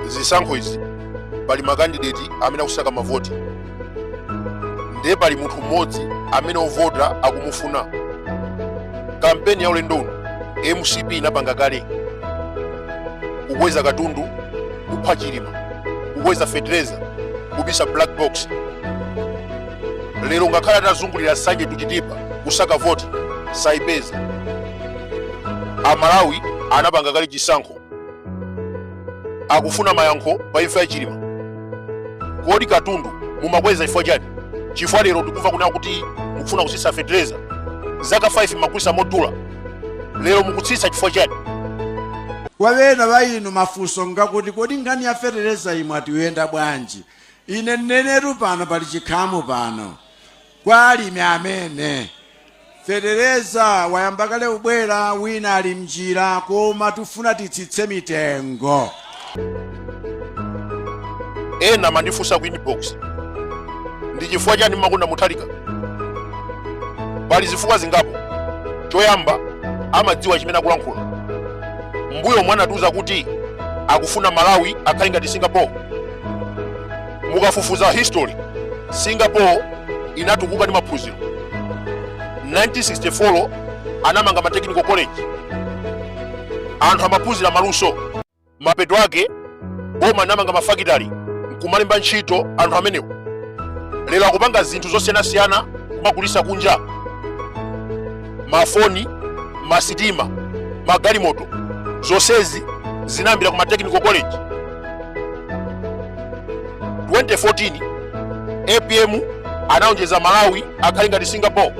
zisankho izi pali makandideti amene akusaka mavoti ndiye pali munthu mmodzi amene ovota akumufuna kampeni ya ulendo uno mcp inapanga kale kukweza katundu kupha chilima kukweza fetereza kubisa black box lero ngakhale atazungulira nsanje to chitipa kusaka voti saipeza amalawi anapanga kale chisankho akufuna mayankho pa imfa ya chilima kodi katundu mumakweza chifukwa chani chifukwa lero tikumva kunena kuti mukufuna kutsitsa fetereza zaka 5 mmagulitsa modula lero mukutsitsa chifukwa chani kwa bena bayinu mafunso ngakuti kodi nkhani ya fetereza imwe atiyenda bwanji Ine neneru pano, pali chikhamu pano, kwa alimi amene fetereza wayamba kale kubwera, wina ali m'njira, koma tufuna titsitse mitengo. ena amandifunsa ku inbox ndi chifukwa chani mmakonda muthalika pali zifukwa zingapo choyamba amadziwa chimene akulankhula mbuyomu anatiuza kuti akufuna malawi akhale ngati singapore mukafufuza history singapore inatukuka ndi maphunziro 1964 anamanga ma technical college anthu amaphunzira maluso mapeto ake boma inamanga mafakitali nkumalemba ntchito anthu amenewo lero akupanga zinthu zosiyanasiyana kumagulitsa kunja mafoni masitima magalimoto zonsezi zinayambira ku ma technical college 2014 apm anaonjeza malawi akhale ngati singapore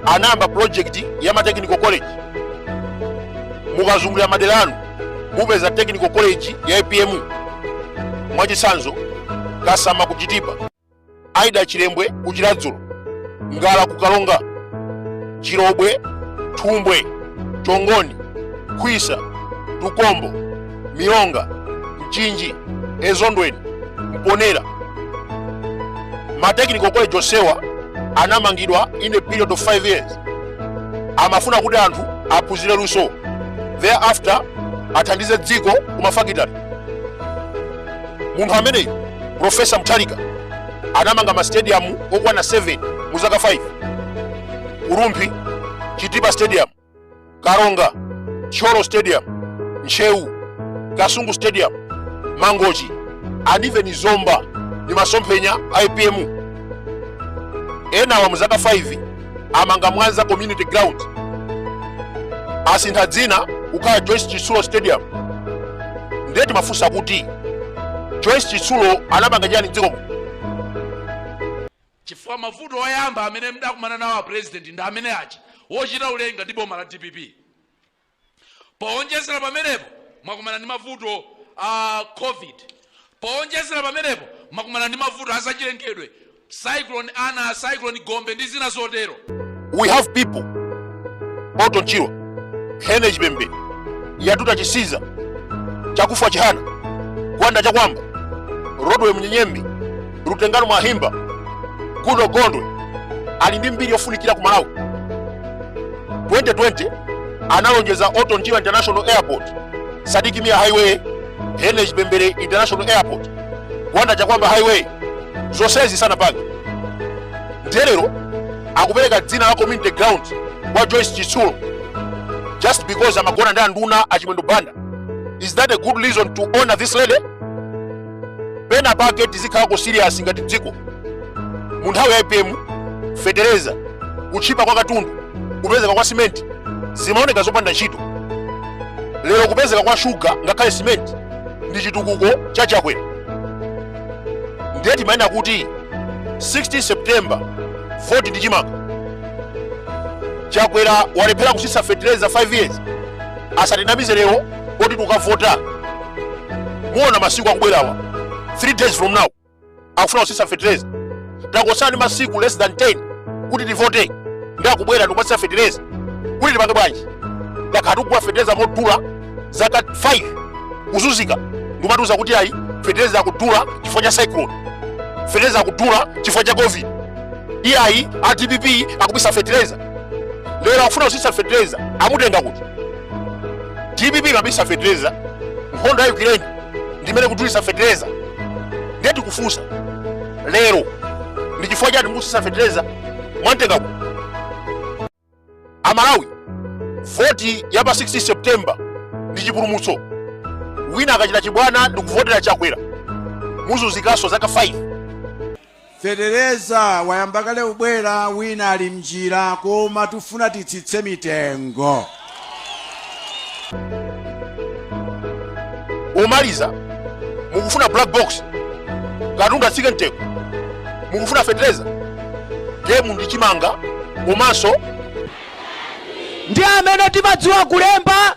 anayamba project ya ma technical college mukazungulira madera anu mupeza technical college ya apm mwachitsanzo kasama kuchitipa aida chilembwe ku chiladzulo ngara ku karonga chilobwe thumbwe chongoni khwisa tukombo milonga mchinji ezondweni mponera ma technical college onsewa anamangidwa in a period of 5 years amafuna kuti anthu aphunzire luso thereafter athandize dziko ku mafakitali munthu ameneyu profesa mutharika anamanga mastadium okwana 7 mu zaka 5 ku rumphi chitipa stadium karonga thyolo stadium ntcheu kasungu stadium mangochi and even zomba ni masomphenya a apm amenewa mu zaka 5 amanga mwanza community ground asintha dzina kukhala joyce chitsulo stadium ndiye timafunsa kuti joyce chitsulo anapanga chani mdzikomo chifukwa mavuto oyamba amene mdakumana nawo a president ndi amene achi wochita ulenga ndi boma la dpp powonjezera pamenepo mwakumana ndi mavuto a covid powonjezera pamenepo mwakumana ndi mavuto a zachilengedwe cyclone ana cyclone gombe ndi zina zotero we have people orton chirwa henry chipembere yatuta chisiza chakufa chihana gwanda chakwamba rodwell munyenyembe Lutengano Mwahimba, Goodall Gondwe ali ndi mbiri yofunikira ku Malawi. 2020 analonjeza Orton Chirwa International Airport, Sidik Mia Highway, Henry Chipembere International Airport, Gwanda Chakwamba Highway, zonsezi sanapange. Nde lero akupereka dzina la community ground kwa Joyce Chitsulo just because amagona ndi anduna a Chimwendo Banda. Is that a good reason to honor this lady? pena pake tizikhalako serious ngati dziko mu nthawi ya apm fetereza kuchipa kwa katundu kupezeka kwa simenti zimaoneka zopanda ntchito lero kupezeka kwa shuga ngakhale simenti ndi chitukuko cha chakwera ndiye timanena kuti 16 september voti ndi chimanga chakwera walephera kutsitsa fetereza 5 years asatinamize lero kuti tukavota muona masiku akubwerawa 3 days from now akufuna kutsitsa fetereza tangotsala ndi masiku less than 10 kuti tivote nde akubwera ndikumatsitsa fetereza kuti tipange bwanji takhala tikugula fetereza modula zaka 5 kuzunzika ndikumatiuza kuti ayi fetereza akudula chifukwa cha cyclone fetereza akudula chifukwa cha covid iyayi a dpp akubisa fetereza lero akufuna kutsitsa fertilizer amutenga kuti dpp imabisa fertilizer nkhondo ya ukraine ndimene ikudulitsa fertilizer ndiye tikufunsa lero ndi chifukwa chani mukutsitsa fertilizer mwamtenga kuti amalawi voti ya pa 16 september ndi chipulumutso wina akachita chibwana ndikuvotera chakwera muzunzikanso zaka 5 Fetereza wayamba kale kubwera wina ali mnjira koma tifuna titsitse mitengo. pomaliza mukufuna black box katundu atsike mtengo mukufuna fetereza gemu ndi chimanga komanso ndi amene timadziwa kulemba